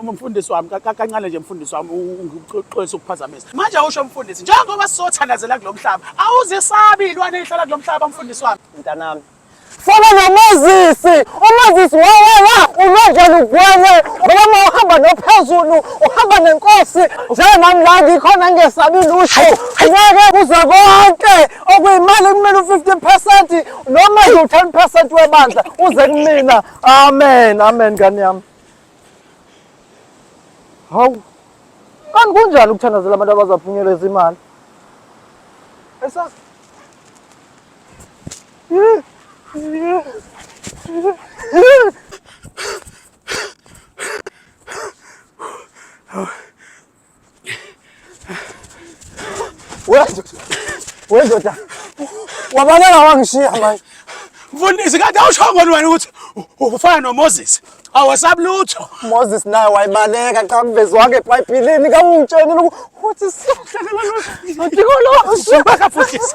Uma mfundisi wami kancane nje mfundisi wami ungixolisa ukuphazamisa. Manje usho mfundisi njengoba sizothandazela kulomhlaba awuzisabi ilwane ihlala kulomhlaba mfundisi wami. Mntanami fana noMoses uMoses wawela unonje lugwele ngoba uma uhamba nophezulu uhamba nenkosi njenami la ngikhona ngesabi lusho ngeke kuze konke okuyimali kumele u-fifty percent noma yiwu-ten percent webandla uze kumina amen amen ngane yami Hawu. Kanti kunjani ukuthandazela abantu abazaphunyelwa izimali? Esa. Yeah. Yeah. Yeah. Wendoda. Wabaleka wangishiya manje. Mfundisi kade awushongoni wena ukuthi ufana noMoses. Awasabi lutho. Moses naye wayibaleka cha mvezo wakhe eBhayibhelini kawungitshenile ukuthi sihlakala lo. Ngidikolo. Baka mfundisi.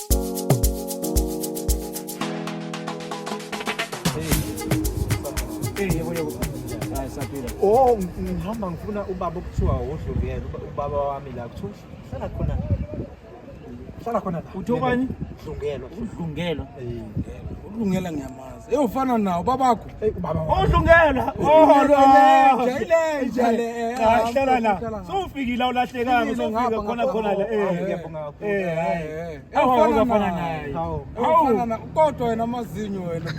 Oh, ngihamba ngifuna ubaba okuthiwa wodlungelo ubaba wami la kuthiwa hlala khona hlala khona la uthi obani dlungelo udlungelo eh udlungela ngiyama Eyo ufana nawo babakho. Odlungela. Ilenja le. Ahlala la. Sowufikile awulahlekanga sowufika khona khona la. Eh. Ngiyabonga kakhulu. Eh. Awufana ufana naye. Hawu. Ufana na kodwa wena amazinyo wena.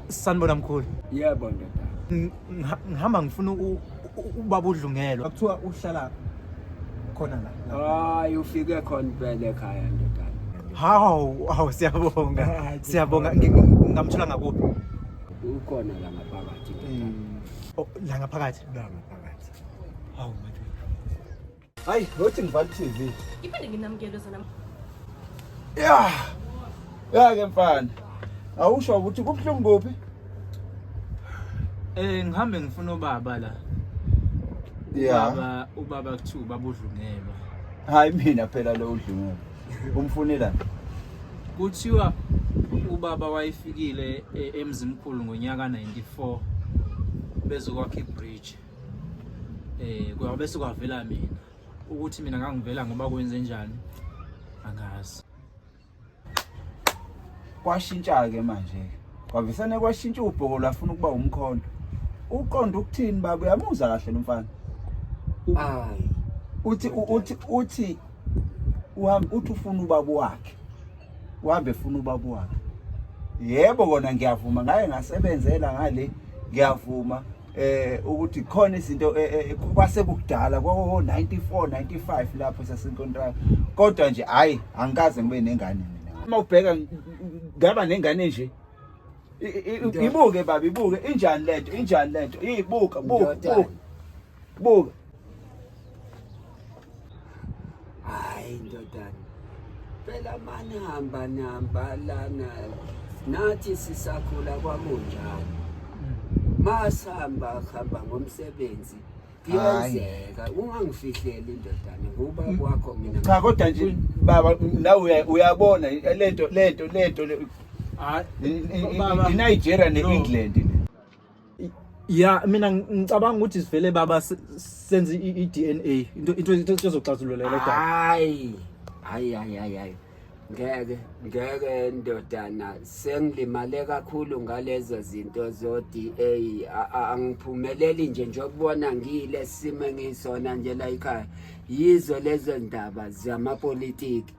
sanibona mkhulu yebo ndoda ngihamba ngifuna ubaba udlungelo akuthiwa uhlala khona la hayi ufike khona impela ekhaya ndoda hawu hawu siyabonga siyabonga ngamthola ngakuphi Ukhona la ngaphakathi. Mm. Oh, la ngaphakathi. La ngaphakathi. Hawu manje. Hayi, ngothi ngivala TV. Iphinde nginamukele sana. Yeah. Yeah ke mfana. Awusho ukuthi kubuhlungu kuphi? Eh ngihambe ngifuna ubaba la. Yeah. Ubaba ubaba kuthiwa ubaba udlungelwa. Hayi mina phela lo udlungelwa. Umfunela. Kuthiwa ubaba wayefikile e, emzimkhulu ngonyaka 94 bezokwakha ibridge. Eh kwabe sekwavela mina ukuthi mina ngangivela ngoba kwenze njani angazi. Kwashintsha ke manje. Kwavesane kwashintsha ubhoko lafuna ukuba umkhondo. Uqonda ukuthini baba uyamuzwa kahle lomfana. Ayi. Uthi uthi uthi uhambe uthi ufuna ubaba wakhe uhambe funa ubaba wakhe yebo kona ngiyavuma ngaye ngasebenzela ngale ngiyavuma eh ukuthi khona izinto eh, eh, eh, kwase kudala kwa 94 95 lapho sasenkontraka kodwa nje hayi angikaze ngibe nengane mina uma ubheka ngaba nengane nje ibuke baba ibuke injani lento injani lento ibuka buka Buka. Hayi ndodana. Phela mani hamba nihamba lana. Nathi sisakhula kwakunjalo. Hmm. Masihamba hamba ngomsebenzi. kuyenzeka ungangifihleli indodana ngoba mm. kwakho mina cha kodwa nje baba nawe uyabona lento lento lento le Nigeria ne England ya mina ngicabanga ukuthi sivele baba senze i-DNA into into into ezoxazulula le daba hayi hayi hayi hayi hayi ngeke ngeke ndodana sengilimale kakhulu ngalezo zinto zo-DA angiphumeleli nje njokubona ngiyile simo engisona nje la yikhaya yizo lezo ndaba zamapolitiki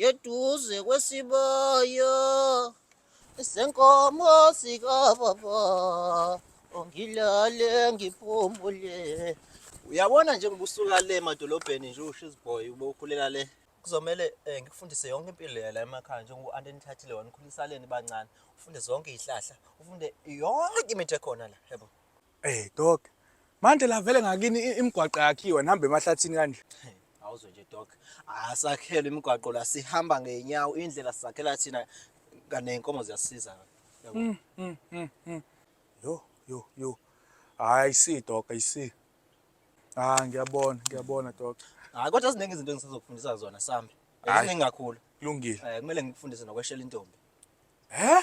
Yeduze kwesibaya senkomo sikababa ongilale ngiphumule uyabona nje ngibusuka le emadolobheni nje usho iziboy ube ukhulela le kuzomele um ngikufundise yonke impilo yala emakhaya njengoku-anti enithathile wena ukhulisaleni bancane ufunde zonke iy'hlahla ufunde yonke imithi ekhona la yebo Eh dog. Manje la vele ngakini i- imigwaqo yakhiwa nihamba emahlathini kanje. Awuzwe nje dog. Asakhelwe imigwaqo la sihamba ngeenyawo indlela sizakhela thina kane inkomo ziyasiza. Yabo. Mm, mm, mm, mm. Yo yo yo. Hayi si dog, I see. Ah ngiyabona, ngiyabona dog. Hayi kodwa ziningi izinto engisazokufundisa zona sambe. Hhayi. Eziningi kakhulu. Kulungile. Eh kumele ngikufundise nokweshela intombi. He?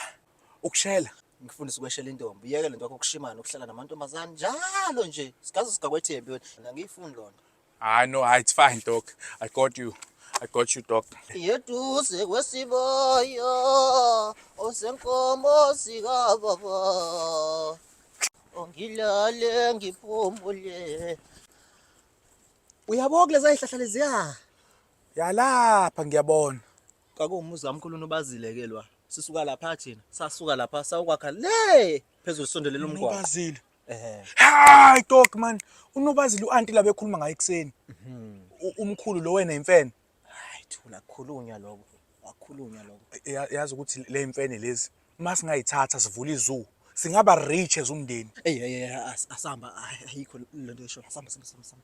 Ukushela? Ngifundisa ukweshela intombi. Yeke lento yakho kushimana ukuhlala namantombazane njalo nje. Sigaze sigakwethembi wena. Ngiyifuni lona. Hayi no, hayi it's fine dog. I got you. I got you dog. Yeduze kwesiboyo osenkomo sikababa. Ongilale ngiphumule. Uyabona kulezi zihlahla leziya. Yalapha ngiyabona. Kwakuwumuzi kamkhulu uNobazile ke lwa. Sisuka lapha thina, sasuka lapha sayokwakha le phezulu sondelela umgwaqo. Unobazile. Ehhe. Hayi dog man. Unobazile uanti la bekhuluma ngaye ekseni. U- Umkhulu lo wena imfene. Hayi thula khulunywa lokho. Wakhulunywa lokho. Ya- Yazi ukuthi le imfene lezi uma singayithatha sivula izoo singaba rich as umndeni. Ey ey ey as- asamba ay- ayikho lento esho. Asamba samba samba samba.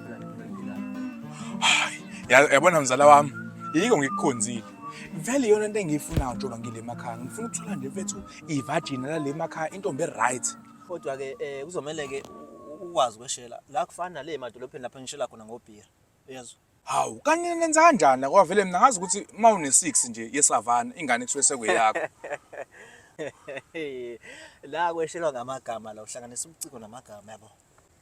yabona mzala wami yiko ngikukhonzile vele yona into engiyifunayo njengoba ngile emakhaya ngifuna ukuthola nje mfethu ivagina lale emakhaya intombi e-right kodwa-ke um eh, kuzomele-ke ukwazi kweshela la kufana nale emadolobheni lapho ngishela khona ngobhira uyezwa hawu kanye nenza kanjani kodwa vele mina ngazi ukuthi uma une-six nje yesavana ingane kusuke sekweyakho la kweshelwa ngamagama la uhlanganisa ubuciko namagama yabo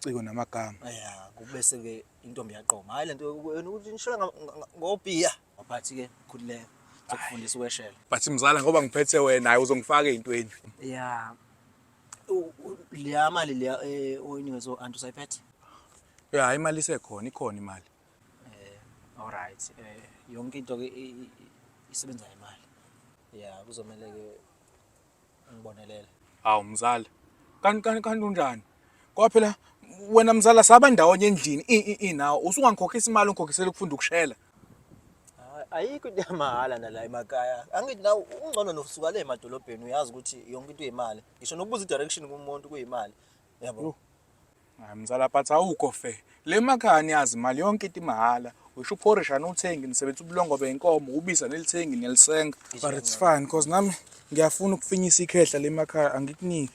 ubuciko namagama ya kubese ke intombi yaqoma hayi lento yona ukuthi nishela ngobiya waphathi ke khulileka ukufundisa ukweshela but mzala ngoba ngiphethe wena hayi uzongifaka ezintweni ya leya mali leya eh, oyinikezwe anti usayiphethe ya hayi imali isekhona ikhona imali eh all right eh yonke into ke isebenza imali ya kuzomele ke ngibonelele hawu mzala kanti kanti kanti unjani ngoba phela wena mzala saba ndawonye endlini i- i- i nawe usungangikhokhisa imali ungikhokhise ukufunda ukushela Hayi, ayikho into yamahhala nala emakhaya angithi nawe ungcono nosuka le emadolobheni uyazi ukuthi yonke into uyimali ngisho nokubuza i-direction kumuntu kuyimali yabo hayi mzala but awukho fair le makhaya niyazi imali yonke into imahhala usho uphorisha anuthengi nisebenzisa ubulongo beyinkomo ubisa nelithengi nelisenga but it's fine cause nami ngiyafuna ukufinyisa ikhehla le makhaya angikuniki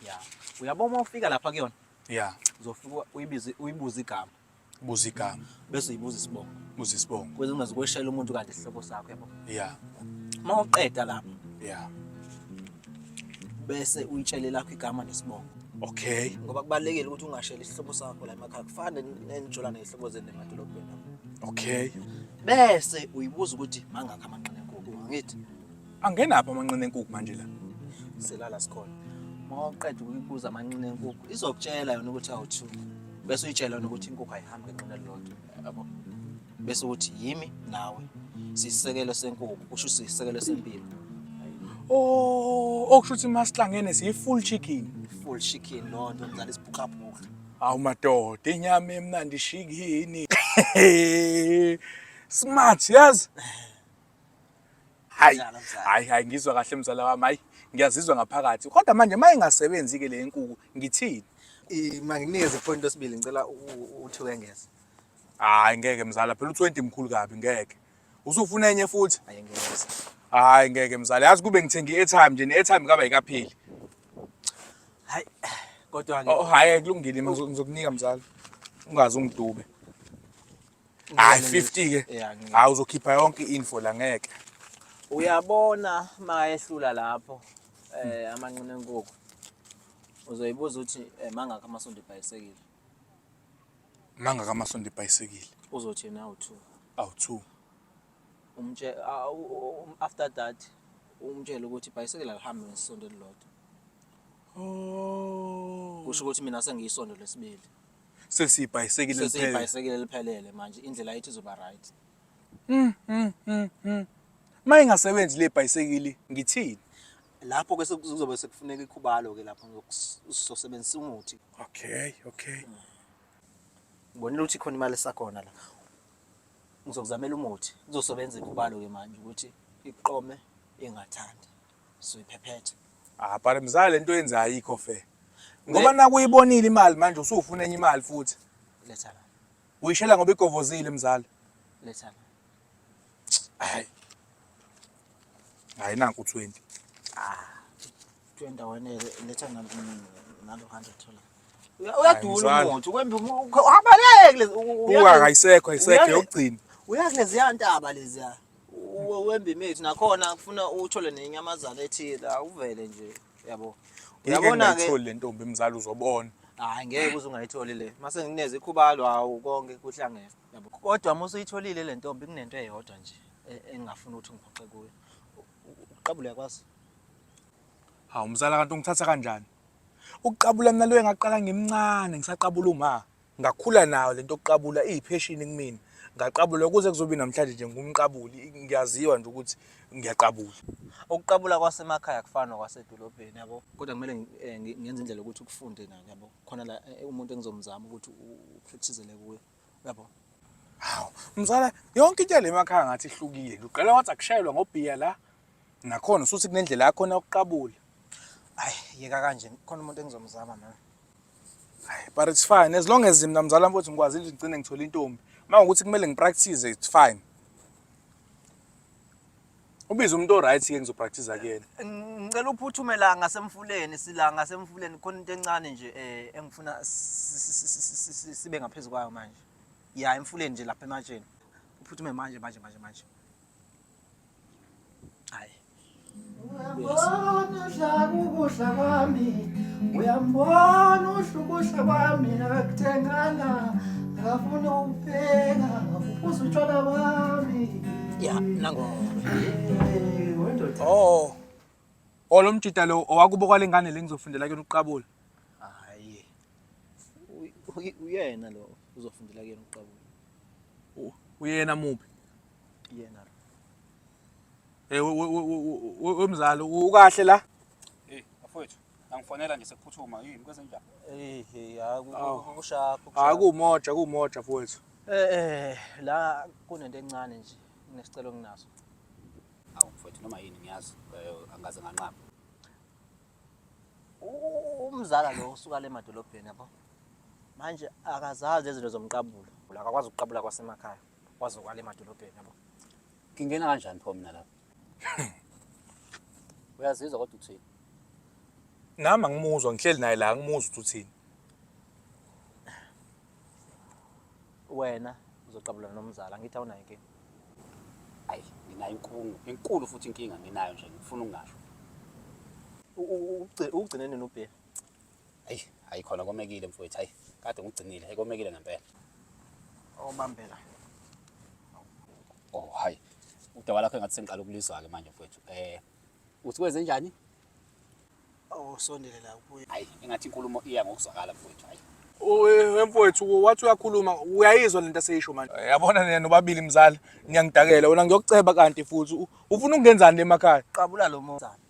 ya uyabona uma ufika lapha kuyona ya uzofika uyibize uyibuze igama buza igama bese uyibuza isibongo buza isibongo ukuze ungazi kweshela umuntu kanti isihlobo sakho yabo ya uma uqeda lapho ya bese uyitshele lakho igama nesibongo okay ngoba kubalekile ukuthi ungasheli isihlobo sakho la emakhaya kufane nenijolana izihlobo zenu emadolobheni okay bese uyibuza ukuthi mangakho amanqina enkukhu angithi Angena apha amanqina enkukhu manje la. Selala sikhona. Uma uqeda ukuyibuza amanqina enkukhu, izokutshela yona ukuthi awuthu. Bese uyitshela yona ukuthi inkukhu ayihambi ngenqina elilodwa. Yabo. Bese ukuthi yimi nawe. Sisekelo senkukhu, kusho sisekelo sempilo. Oh, okusho ukuthi masihlangene siyi full chicken. Full chicken lonto ngizala isibhuqabhuqa. Awu madoda, inyama emnandi shikini. Smart, yazi? Hayi, hayi, hayi ngizwa kahle mzala wami, hayi ngiyazizwa ngaphakathi. Kodwa manje uma ingasebenzi ke le nkukhu ngithini? Manginikeze iphoni lesibili ngicela uthi wengeze. Hayi ngeke mzala, phela u20 mkhulu kabi ngeke. Usufuna enye futhi? Hayi ngeke. Hayi ngeke mzala, yazi kube ngithenga i-airtime nje, ne-airtime kaba yikapheli. Hayi kodwa ke. Oh hayi kulungile ngizokunika mzala. Ungazi ungidube. hayi 50 ke Yeah, ngi- hayi uzokhipha yonke info la ngeke uyabona mayehlula lapho eh amanqina enkukhu uzoyibuza ukuthi eh, mangakho amasondo ebhayisekile mangaka amasondo ibhayisekile uzothi na u2 awu-two umtshele ah, u- u- u- after that umtshele ukuthi ibhayisekile alihambe ngesondo elilodwa Oh. kusho ukuthi mina sengiyisondo lesibili Sesiyibhayisekile liphele. sesiyibhayisekile liphelele manje indlela yethu izoba right Mm, mm, mm, mm. Uma ingasebenzi le bhayisekili ngithini? lapho ke seku- kuzobe sekufuneka ikhubalo ke lapho ngokus- sizosebenzisa umuthi Okay, okay. ngibonile ukuthi khona imali esakhona la ngizokuzamela umuthi kuzosebenza ikhubalo ke manje ukuthi iqome ingathandi soyiphephetha ah but mzala lento yenza ayikho fair ngoba nakuyibonile imali manje usufuna enye imali futhi letha la uyishela ngoba igovozile mzala letha la hayi hayi nanku 20 ah 20 wena letha nalo 100 thola uyadula umuntu kwembi uhabaleke uyakuleziya ntaba leziya we- wembimethu nakhona kufuna uthole nenyamazana ethile awuvele nje yabo uyabona ke uyabona-ke le ntombi mzala uzobona hayi ngeke uze ungayitholi le mase ngineze ikhubalo hawu konke kuhlangene yabo kodwa uma usuyitholile le ntombi kunento eyodwa nje e- engingafuni ukuthi ngiphoxe kuyo U- u- uqabula uyakwazi hawu mzala kanti ungithatha kanjani ukuqabula mina loyo engaqala ngimncane ngisaqabula uma ngakhula nayo lento yokuqabula iyipheshini kumina ngaqabula ukuze kuzobe namhlanje nje ngumqabuli ngiyaziwa nje ukuthi ngiyaqabula ukuqabula kwasemakhaya kufana nokwasedolobheni yabo kodwa kumele eh, ngenze indlela ukuthi ukufunde nani yabo khona la eh, umuntu engizomzama ukuthi upracticele kuye yabo hawu mzala yonke into yale makhaya ngathi ihlukile ngiqela wathi akushayelwa ngobhiya la Nakhona usuthi kunendlela yakhona yokuqabula. Hayi yeka kanje khona umuntu engizomzama mina. Hayi but it's fine as long as mina mzala mfowethu ngikwazi nje ngicine ngithola intombi. Uma ukuthi kumele ngipractice it's fine. Ubiza umuntu oright ke ngizopractice kuyena. Ngicela uphuthume la ngasemfuleni sila ngasemfuleni khona into encane nje eh engifuna sibe ngaphezulu kwayo manje. Ya emfuleni nje lapha ematsheni. Uphuthume manje manje manje manje. ukuhla kwami uyambona uhla ukuhla kwami nakakuthengana ngafuna ukupheka ngafuphuza utshwala bami ya nango oh oh lo mjita lo owakubo kwale ngane le ngizofundela kuyona uqabula hayi uyena lo uzofundela kuyona uqabula uyena muphi yena hey wemzali ukahle la hey afowethu angifonela nje sekuphuthuma yini kwezenjani eh hey akushapho hayi kumoja kumoja afowethu eh eh la kunento encane nje nginesicelo nginaso awu mfowethu noma yini ngiyazi eh, angaze nganqaba umzala lo usuka le madolobheni yabo manje akazazi izinto zomqabulo akakwazi ukuqabula kwasemakhaya wazokwala emadolobheni yabo ngingena kanjani pho mina lapho uyazizwa kodwa uthini nami angimuzwa ngihleli naye la angimuzwa ukuthi uthini wena uzoqabulana nomzala angithi awunayo inkinga ayi nginayo inkungu enkulu futhi inkinga nginayo nje ngifuna ungasho ukugcine nini ubhe Hayi, hayi khona komekile mfowethu. Hayi, kade ngigcinile. Hayi komekile ngempela. Obambela. Oh, hayi. Udaba lakho engathi sengiqala ukulizwa ke manje mfowethu. Eh, uthi kwenze njani? Oh, sondele la kuye. Hayi, engathi inkulumo iya ngokuzwakala mfowethu. Hayi. wemfowethu wathi uyakhuluma uyayizwa lento aseyisho manje Eh, Yabona nina nobabili mzala niyangidakela wena ngiyokuceba kanti futhi u- ufuna ukungenzani le makhaya? Qabula lo mozana.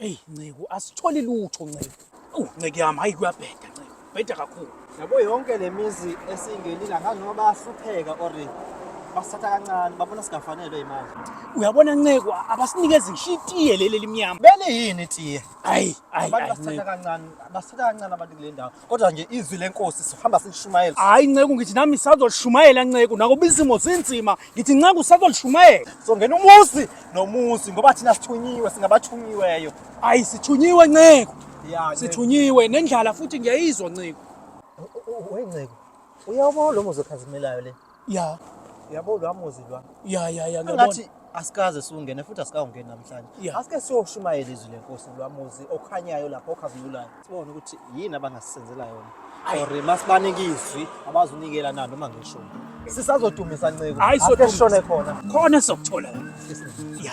Eyi nceku asitholi lutho nceku. Awu nceku yami hayi kuyabheda nceku. Bheda kakhulu. Yabo yonke lemizi esingenile angazi noma bayahlupheka or basithatha kancane babona singafanelwe imali. Uyabona nceku abasinikezi ngisho itiye leli elimnyama. Bele yini tiye? Ayi ayi Abantu ayi basithatha nceku. kancane, basithatha kancane abantu kule ndawo. kodwa nje izwi lenkosi sihamba silishumayela hayi nceku ngithi nami sazolishumayela nceku nakuba izimo zinzima ngithi nceku sazolishumayela songena umuzi nomuzi ngoba thina sithunyiwe singabathunyiweyo hayi sithunyiwe nceku sithunyiwe nendlala futhi ngiyayizwa nceku wenceku uyawubona lo muzi okhazimelayo le ya yabo lwa muzi lwa ya ya ya ngiyabona ngathi asikaze siwungene futhi asikawungeni namhlanje Yeah. asike siyoshumayela izwi lenkosi lwa muzi okhanyayo lapho okhazimulayo sibone ukuthi yini abangasisenzela yona or masibanike izwi abazunikela na noma ngishoni sisazodumisa nceko Hayi, Asike sodumisa. sishone khona khona sokuthola la ya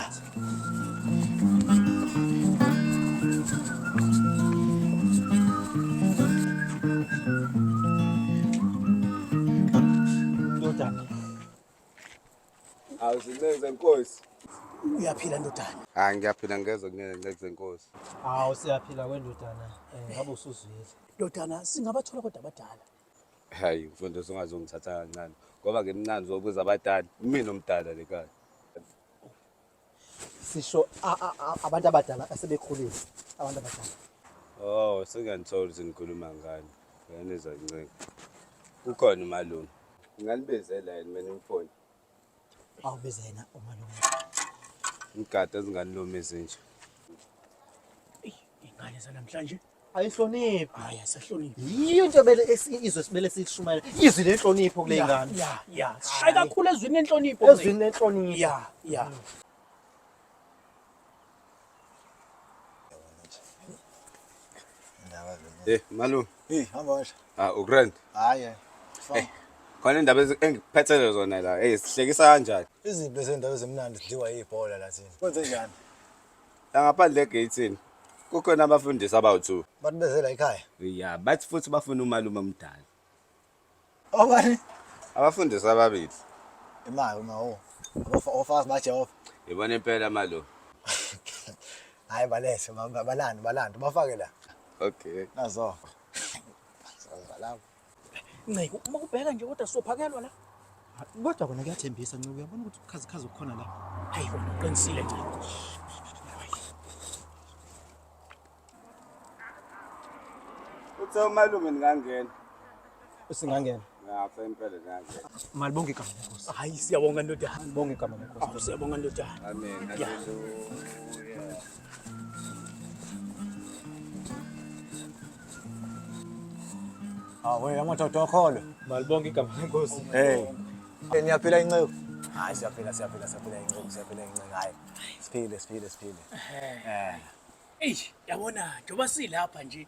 Awuzinenze nkosi. Uyaphila ndodana. Hayi ngiyaphila ngeze kunene ngeze nkosi. Hawu siyaphila kwendodana. Eh, ngabe usuzwile. Ndodana singabathola kodwa abadala. Hayi mfundisi ungazongithatha kancane ngoba ngimncane zokuza abadala. Mina omdala lekaya. sisho abantu abadala asebekhulile abantu abadala oh sengiyanithola ukuthi ngikhuluma ngani uyanizwa nceke kukhona umalume ngingalibezela yini mina umfoni awubize yena umalume ngigada ezinganilumi ezinje ingane zanamhlanje ayihloniphi hayi asahloniphi yiyo into ebele izwe sibele sishumayela izwi lenhlonipho kule ngane ya ya sishaye kakhulu ezwini lenhlonipho ezwini lenhlonipho ya ya Eh malu eh hamba washa ah ugrand hayi eh khona indaba engiphethelwe zona la hey sihlekisa kanjani iziphi lezi ndaba ezimnandi sidliwa yibhola la thina kwenze njani la ngaphandle egeyithini kukhona abafundisi abawu-two Bathi beze la ekhaya. ya bathi futhi bafuna umalume omdala Obani? abafundisi ababili Imali uma o. Ofakazi baJehova. yibona impela malo Hayi balese balanda balanda bafake la. okay Nazo. Balanda. Nceku, uma ubheka nje kodwa sophakelwa la. Kodwa kona kuyathembisa Nceku, uyabona ukuthi ukhazikhazi okukhona la. Hayi kona uqinisile Nceku. Uthe umalume ningangena. Usingangena. Ngapha impela ngangena. Malibonge igama lenkosi. Hayi siyabonga ndodana. Malibonge igama lenkosi. Siyabonga ndodana. Amen. Hallelujah. Awe amadoda okholo. Malibonke igama lenkosi. Hey. Niyaphila inceku. Hayi siyaphila siyaphila siyaphila inceku siyaphila inceku hayi. Siphile siphile siphile. Eh. Eish, yabona njengoba silapha nje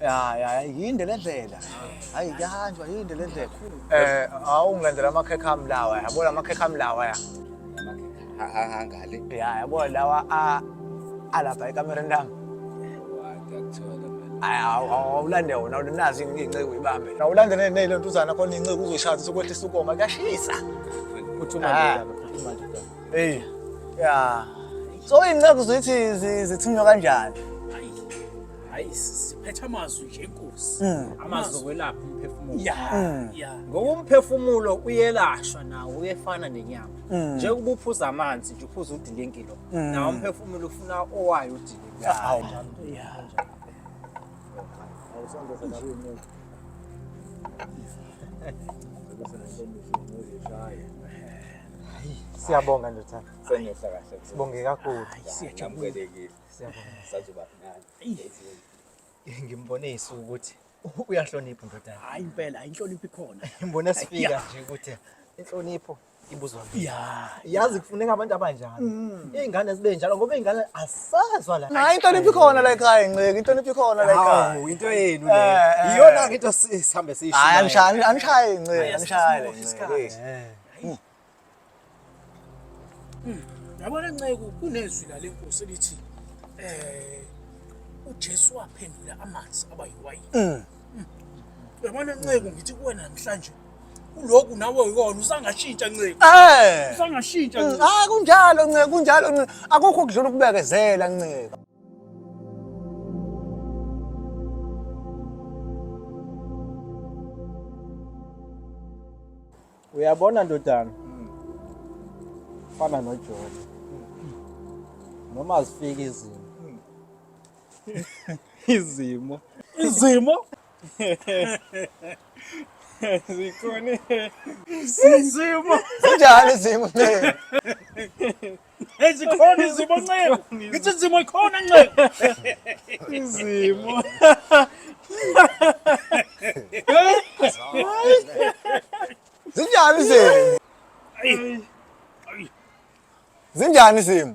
ya ya yinde le ndlela hayi kuyahanjwa yinde le ndlela eh awungilandela amakhekhe ami lawa yabo la makhekhe ami lawa ya hangale ya yabo lawa a alapha ekamereni lami awulande wona nazi inceku ibambe awulande neyile ntuzana khona inceku uzoyishada sokwehlisa ukoma kuyashisa ah. eyi ya so iy'nceku zithi zithunywa kanjani hayi siphetha amazwi nje inkosi mm. amazwi okwelapha umphefumulo ya mm. ya ngoba umphefumulo uyelashwa nawo uyefana nenyama mm. njengoba uphuza amanzi nje uphuza udilingilo nawo umphefumulo ufuna owayo udilingilo hawu ya siyabonga ndothana sengehla kahle sibonge kakhulu siyajabulela Siyabonga. Sazoba mnandi. Ngimbone isuku ukuthi uyahlonipha ndodana. Hayi impela, hayi inhlonipho ikhona. Ngimbone sifika nje ukuthi inhlonipho ibuzwa mina. Ya, yazi kufuneka abantu abanjalo. Mm. Izingane zibe njalo ngoba izingane asazwa la. Hayi inhlonipho ikhona la ekhaya ngceke, inhlonipho ikhona la ekhaya. Hawu into yenu le. Eh, eh. Iyona ke into sihambe siyisho. Hayi angishaye, angishaye ngceke, angishaye ngceke. Hmm. Yabona nceku kunezwi lale nkosi elithi eh uJesu waphendula amanzi aba yiwayini. Hmm. Hmm. Yabona nceku ngithi kuwe namhlanje uloku nawe uyona usangashintsha nceku. Eh. Usangashintsha nceku. Ah kunjalo nceku kunjalo nceku akukho kudlula ukubekezela nceku. uyabona ndodana fana nojoni noma zifika izimo izimo izimo zikhona izimo zinjani izimo Ezikhona izimo nceku. Ngithi izimo ikhona nceku. Izimo. Zinjani izimo? Zinjani izimo?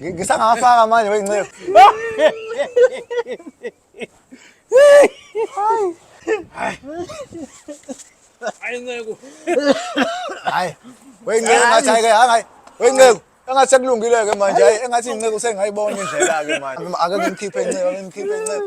Ngi- Ngisangafaka manje weyinceku. Hayi nceku. Hayi. Weyinceku ngathi hayi ke hayi. Weyinceku engathi sekulungile ke manje hayi engathi inceku sengayibona indlela ke manje. Ake ngimkhiphe inceku, ake ngimkhiphe inceku.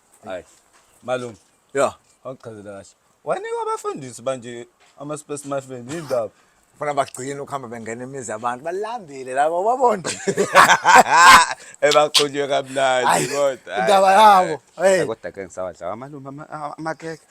Hayi. Malume. Yeah. Awuchazela kahle. Wanikwa abafundisi banje ama space muffin indaba. Funa bagcine ukuhamba bengena imizi abantu balambile labo babona. Ebaqhunywe kamnandi kodwa. Indaba yabo. Hey. Kodwa ke ngisawadla amalume amakeke.